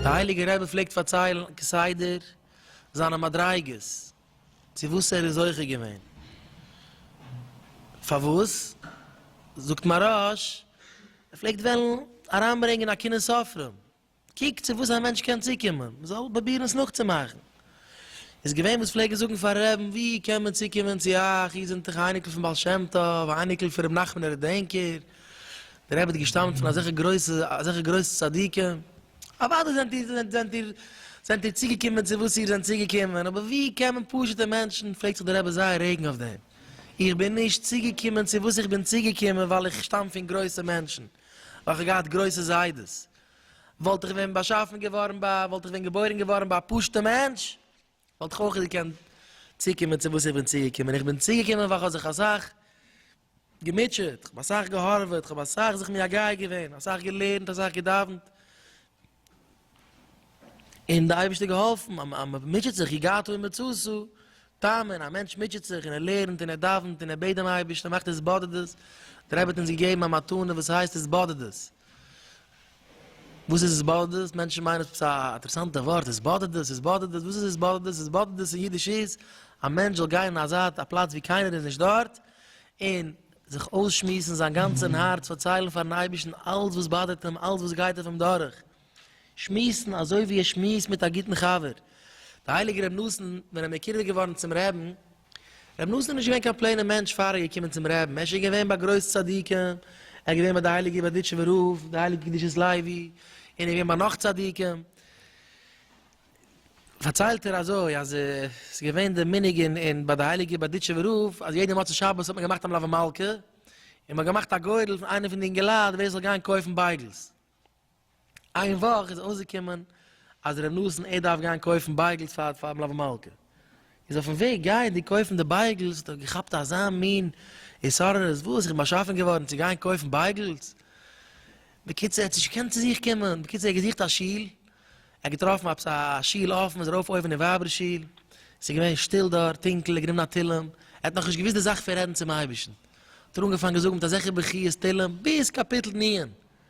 דער הייליגער רבי פלעגט פארציילן כסדר זיינע מדריגות צו וואס ער איז זוכה געווען. פארוואס? זאגט מהרש, ער פלעגט וועלן אריינברענגען א קנאת סופרים, קוק צו וואס א מענטש קען צוקומען, מען זאל פרובירן עס נאכצומאכן. איז געווען וואס פלעגן זאגן פארן רעבן, ווי קען מען צוקומען צו אייך, איר זענט דאך א אייניקל פון בעל שם טוב, א אייניקל פון רבי נחמן דער דענקער, דער רבי האט געשטאמט פון אזעלכע גרויסע, אזעלכע גרויסע צדיקים. אוודאי זענט איר, זענט זענט איר, זענט איר צוגעקומען צו וואס איר זענט צוגעקומען, אבער ווי קען מען פשוט'ע מענטשן, פרעגט זיך דער רבי זייער רעגן אויף דעם, איך בין נישט צוגעקומען צו וואס איך בין צוגעקומען ווייל איך שטאם פון גרויסע מענטשן, ווייל כ'האב געהאט גרויסע זיידעס, וואלט איך ווען באשאפן געווארן ביי, וואלט איך ווען געבוירן געווארן ביי א פשוט'ע מענטש, וואלט איך אויך געקענט צוקומען צו וואס איך בין צוגעקומען, איך בין צוגעקומען ווייל כ'האב זיך אסאך געמוטשעט, כ'האב אסאך געהארוועט, כ'האב אסאך זיך מייגע געווען, אסאך געלערנט, אסאך געדאווענט, און די אייבערשטער געהאלפן, אז מען מוטשעט זיך, יגעת הוא מצותו, טעמען, א מענטש מוטשעט זיך און ער לערנט און ער דאווענט און ער בעט דעם אייבערשטן, ער מאכט התבודדות, דער רבי האט אונז געגעבן א מתנה וואס הייסט התבודדות, וואס איז עס באדערט דאס? מענטשן מיינען עס איז א אינטערעסאנטע ווארט, עס באדערט דאס, עס באדערט דאס, וואס איז עס באדערט דאס? עס באדערט דאס אין אידיש איז, א מענטש זאל גיין אין א זייט, א פלאץ וואו קיינער איז נישט דארט, און זיך אויסשמועסן זיין גאנצע אין הארץ, פארציילן פארן אייבערשטן אלץ וואס באדערט אים, אלץ וואס גייט אויף אים דורך, שמועסן אזוי ווי ער שמועסט מיט א גוטן חבר. דער הייליגער רבי נתן ווען ער מקורב איז געווארן צום רעבן, רבי נתן איז נישט געווען קיין פלעינע מענטש פאר ער איז געקומען צום רעבן, ער איז שוין געווען ביי גרויס צדיקים, ער איז געווען ביי די הייליגע בארדיטשובער רב, די הייליגע קדושת לוי, און ער איז געווען ביי נאך צדיקים, פארציילט ער אזוי אז עס איז געווען די מנהג אין ביי די הייליגע בארדיטשובער רב אז יעדע מוצאי שבת האט מען געמאכט א מלווה מלכה, און מען האט געמאכט א גורל פון איינע פון די אינגעלייט ווער עס זאל גיין קויפן בייגלס, איין וואך איז אויסגעקומען אז ר' נתן ער דארף גיין קויפן בייגלס פאר פאר מלוה מלכה, איז אויפן וועג גייענדיג קויפן די בייגלס האט ער געכאפט אזא מין התעוררות, וואס? איך בין באשאפן געווארן צו גיין קויפן בייגלס? בקיצור ער האט נישט געקענט צו זיך קומען, בקיצור ער האט געזוכט א שול, ער האט געטראפן עפעס א שול אפן, איז ארויף אויבן אין ווייבער שול, ס'איז געווען שטיל דארט, טונקל, ער האט גענומען א תהלים, ער האט נאכנישט געוואוסט די זאך פון רעדן צום אייבערשטן, האט ער אנגעפאנגען זאגן מיט אזעלכע בכיות תהלים ביז קאפיטל נ'.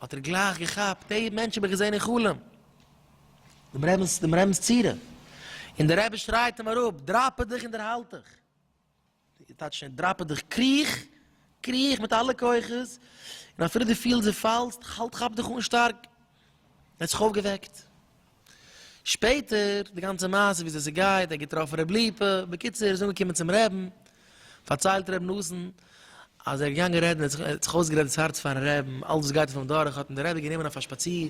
האט ער גלייך געכאפט, די מענטש האב איך געזען אין חלום, דעם רבינ'ס דעם רבינ'ס צורה, און דער רבי שרייט אים אראפ, דראפע דיך און דערהאלט דיך, טייטש דראפע דיך, קריך, קריך מיט אלע כוחות, און אפילו דו פילסט דו פאלסט, האלט כאפ דיך אן שטארק, ער האט זיך אויפגעוועקט. שפעטער די גאנצע מעשה וויאזוי ס'גייט, ער האט געטראפן ר' ליפא, בקיצור ער איז אנגעקומען צום רעבן, פארציילט ר' נתן אז ער איז געגאנגען רעדן ער האט זיך אויסגערעדט דאס הארץ פארן רעבן, אלס וואס גייט אויף אים דורך, האט אים די רבי גענומען אויף א שפאציר,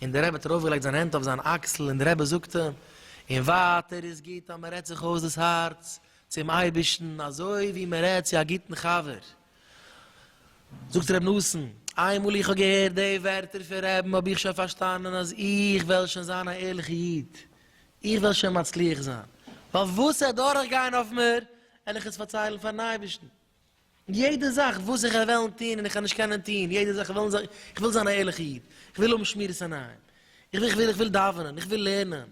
און די רבי האט ארויפגעלייגט זיין הענט אויף זיין אקסל און די רבי זאגט אים, און ווייטער איז גוט אז מען רעדט זיך אויס דאס הארץ צום אייבערשטן אזוי ווי מען רעדט צו א גוטן חבר, זאגט ר' נתן, איינמאל איך האב געהערט די ווערטער פון רעבן האב איך שוין פארשטאנען אז איך וועל שוין זיין א ערליכע איד, איך וועל שוין מצליח זיין, ווייל וואס ער דורך גיין אויף מיר וועל איך עס פארציילן פארן אייבערשטן, יעדע זאך וואס איך וועל וועלן טון און איך וועל נישט קענען טון, יעדע זאך איך וועל, איך וויל זיין א ערליכע איד, איך וויל האבן שמירת עיניים, איך וויל, איך וויל, איך וויל דאווענען, איך וויל לערנען,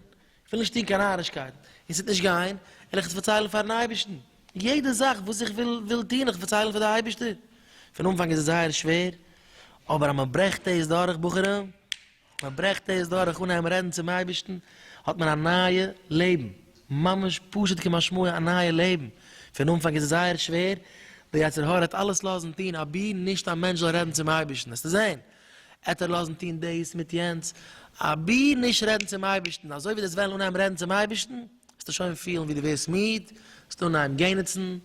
כ'וויל נישט טון קיין נארישקייט, און ס'וועט נישט גיין, וועל איך עס פארציילן פאר'ן אייבערשטן. יעדע זאך וואס איך וויל וויל טון, איך פארציילן פאר די אייבערשטער. פון אנפאנג איז עס זייער שווער, אבער אז מען ברעכט דאס דורך, בחורים, מען ברעכט דאס דורך אנהייבן רעדן צום אייבערשטן, האט מען א נייע לעבן, ממש פשוט כמשמעו א נייע לעבן. פון אנפאנג איז עס זייער שווער, דער יצר הרע וועט אלעס לאזן טון אבי נישט א מענטש זאל רעדן צום אייבערשטן, וועסטו זען. עט ער לאזן טון דאס מיט יענץ, אבי נישט רעדן צום אייבערשטן, אזוי ווי דו וועסט וועלן אנהייבן רעדן צום אייבערשטן, וועסטו שוין פילן ווי דו ווערסט מיד, וועסט אנהייבן געניצן,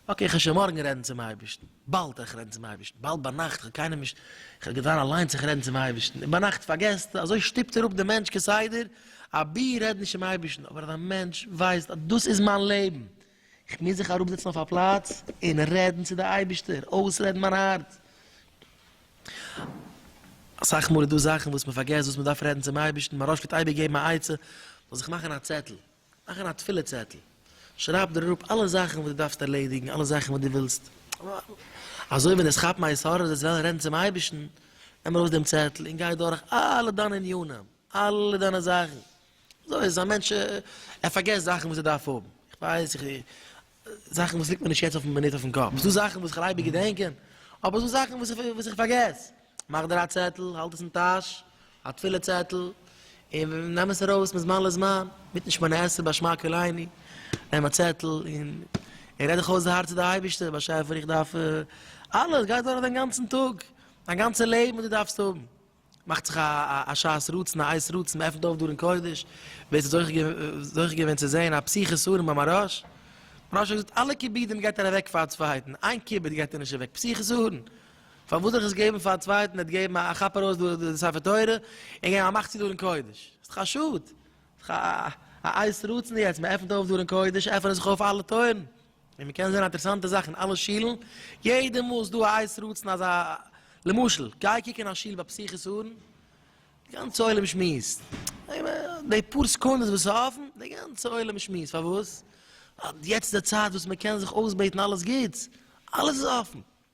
אקעי איך וועל שוין מארגן רעדן צום אייבערשטן, באלד וועל איך רעדן צום אייבערשטן, באלד ביינאכט, איך האב קיינעם נישט, איך וועל געווען אליינס איך רעדן צום אייבערשטן, און ביינאכט פארגעסטו, אזוי שטופט ער אפ דעם מענטש כסדר, אבי רעד נישט צום אייבערשטן, אבער אז א מענטש ווייסט אז דאס איז מיין לעבן, איך מוז זיך אראפזעצן אויף א פלאץ און רעדן צו די אייבישטער, אויסרעדן מיין הארץ. אסאך מאל איז דא זאכן וואס מען פארגעסט וואס מען דארף רעדן צום אייבישטן, מהרא ש פלעגט אייביג געבן א עצה, זאל זיך מאכן א צעטל, מאכן א תפילה צעטל, שרייב דיר אראפ אלע זאכן וואס דו דארפסט ערלעדיגן, אלע זאכן וואס דו ווילסט, אזוי ווען עס כאפן א יסורת וועסט וועלן רעדן צום אייבישטן, נעם ארויס דעם צעטל און גיי דורך אלע דיינע ענינים, אלע דיינע זאכן. אזוי איז א מענטש, ער פארגעסט זאכן וואס ער דארף האבן, איך ווייס, איך, זאכן וואס ליגט מיר נישט יעצט אויפן מינוט אויפן קאפ, ס'דא זאכן וואס כ'על אייביג געדענקען, אבער ס'דא זאכן וואס איך, וואס איך פארגעס, מאך דיר א צעטל, האלט עס אין טאש, א תפילה צעטל, און נעם עס ארויס מזמן לזמן, מיט נישט מן העשב באשמע קוליני, נעם א צעטל און און רעד דיך אויס די הארץ צו די אייבערשטער, באשעפער איך דארף אלעס, גיי דורך דיין גאנצן טאג, דיין גאנצע לעבן וואס דו דארפסט האבן. מאכט זיך א שעת רצון, א עת רצון, מען עפנט אויף דארן קודש, ווער ס'איז זוכה געווען צו זען א פסיכי סארום ביים מהרש, מהרש האט געזאגט אלע כיבודים געבט ער אוועק פאר א צווייטן, איין כיבוד געבט ער נישט אוועק, פסיכי סארום, פארוואס זיך עס געבן פאר א צווייטן, ער האט געגעבן א כאפ ארויס די ספר תורה, און געבן א מאך צו דארן קודש, ס'איז דאך א שאד, ס'איז דאך א עת רצון יעצט, מען עפנט אויף דארן קודש, עפענען זיך אויף אלע טויערן. און מ'קען זען אינטערעסאנטע זאך אין אלע שילן, יעדע מאל איז דא א איז רצון אז א, למשל, גיי קוק אין א שול ביי פסח'ס ארון, די גאנצע עולם שמועסט, די פאר סעקונדעס וואס איז אפן, די גאנצע עולם שמועסט, פארוואס? ווייל יעצט איז די צייט וואס מ'קען זיך אויסבעטן אלעס גוטס, אלעס איז אפן,